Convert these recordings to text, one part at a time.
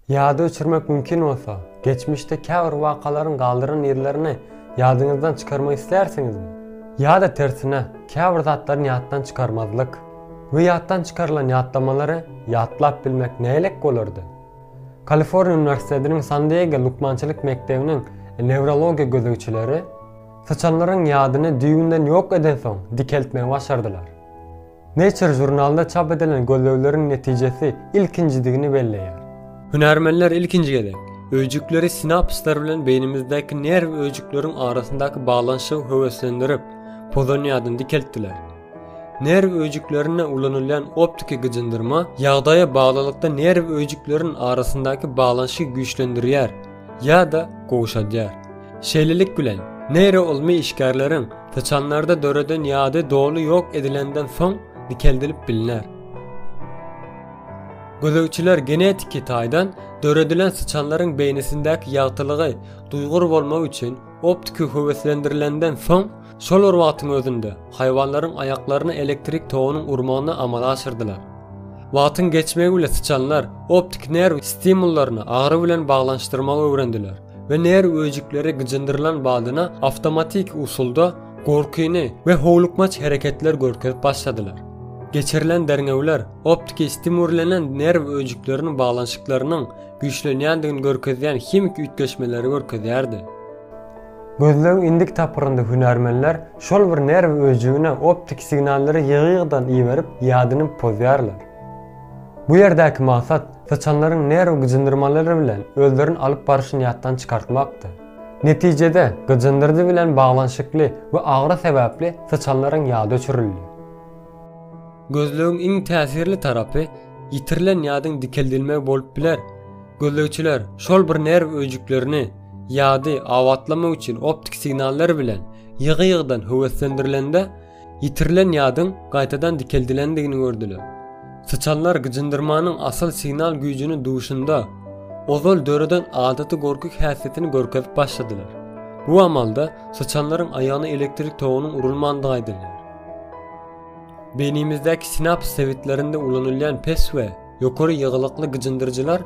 Ýady öçürmek mümkin bolsa, geçmişde käbir wakalaryň galdyran yzlaryny ýadyňyzdan çykarmak islärsiňizmi? Ýa-da tersine, käbir zatlaryny ýatdan çykarmazlyk? We ýatdan çykarylan ýatlamalary ýatlap bilmek nähilek bolardy? Kaliforniýa uniwersitetiniň San-Diego lukmançylyk mekdebiniň newrologiýa gözegçileri syçanlaryň ýadyny düýbünden ýok edensoň dikeltmegi başardylar. Nature žurnalynda çap edilen gözlegleriň netijesi ilkinjidigini belleýär. Hünärmenler ilkinji gezek, öýjükleri sinapslar bilen beýnimizdäki nerw öýjükleriň arasyndaky baglanyşygy höweslendirip, pozonyýadan dikeltdiler. Nerw öýjüklerinde ulanylýan optiki gyjyndyrma ýagdaýa baglylykda nerw öýjüklerin arasyndaky baglanyşygy güýçlendirýär ýa-da gowşadýar. Şeýlelik bilen, neýroylmy işgärleriň syçanlarda döreden ýady doly ýok edilenden soň dikeldilip bilner. Gözegçiler genetiki taýdan döredilen syçanlaryň beýnisindäki ýagtylygy duýgur bolmak üçin optiki höweslendirilenden soň, şol bir wagtyň özünde haýwanlaryň aýaklaryna elektrik togunyň urmagyny amala aşyrdylar. Wagtyň geçmegi bilen syçanlar optik nerw stimullaryny agyry bilen baglanyşdyrmagy öwrendiler. we nerw öýjükleri gyjyndyrylan badyna awtomatik usulda gorkyny we howlukmaç hereketler görkezip başladylar. Geçirilen derňewler optiki stimurlenen nerw öýjükleriniň baglanyşyklarynyň güýçlenýändigini görkezýän himiki üýtgeşmeleri görkezýärdi. Gözlegiň indiki tapgyrynda hünärmenler şol bir nerw öýjügine optiki signallary ýygy-ýygydan iberip ýadyny pozýarlar. Bu ýerdäki maksat syçanlaryň nerw gyjyndyrmalary bilen özlerini alyp barşyny ýatdan çykartmakdy. Netijede, gyjyndyrdy bilen baglanyşykly we agyry sebäpli syçanlaryň ýady öçürildi. Gözlegiň iň täsirli tarapy ýitirilen ýadyň dikeldilmegi bolup biler. Gözlegçiler şol bir nerw öýjüklerini ýady abatlamak üçin optik signallar bilen ýygy-ýygydan höweslendirilende, Ýitirilen ýadyň gaýtadan dikeldilendigini gördüler. Syçanlar gyjyndyrmanyň asyl signal güýjüni duýşunda, ozal döreden adaty gorky häsiýetini görkezip başladylar. Bu amalda syçanlaryň aýagyna elektrik togunyň urulmandygy aýdylýar. Beýnimizdäki sinaps sebitlerinde ulanylýan pes we ýokary ýygylykly gyjyndyryjylar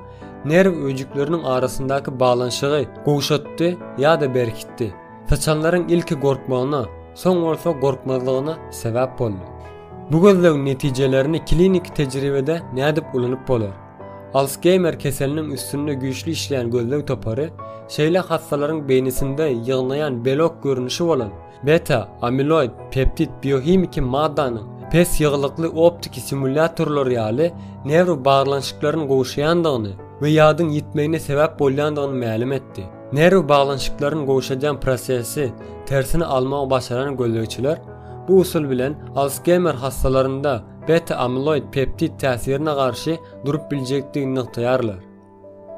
nerw öýjükleriniň arasyndaky baglanyşygy gowşatdy ýa-da berkitdi. Syçanlaryň ilki gorkmagyna, soň bolsa gorkmazlygyna sebäp boldy. Bu gözlegiň netijelerini kliniki tejribede nädip ulanyp bolar? Alsgeýmer keseliniň üstünde güýçli işleýän gözleg topary şeýle hassalaryň beýnisinde ýygnaýan belok görnüşi bolan beta-amiloid peptid biohimiki maddanyň pes ýygylykly optiki simulýatorlar ýaly newrobaglanyşyklaryny gowşaýandygyny we ýadyň ýitmegine sebäp bolýandygyny mälim etdi. Nerw baglanyşyklaryny gowşadýan prosesi tersine almagy başaran gözlegçiler bu usul bilen Alsgeýmer hassalarynda beta-amiloid peptid täsirine garşy durup biljekdigini nygtaýarlar.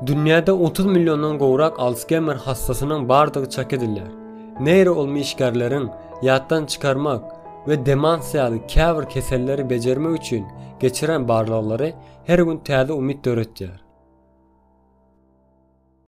Dünýäde otuz milliondan gowrak Alsgeýmer hassasynyň bardygy çak edilýär. Neýroylmy işgärleriň ýatdan çykarmak we demans ýaly käbir keselleri bejermek üçin geçiren barlaglary her gün täze umyt döretýär.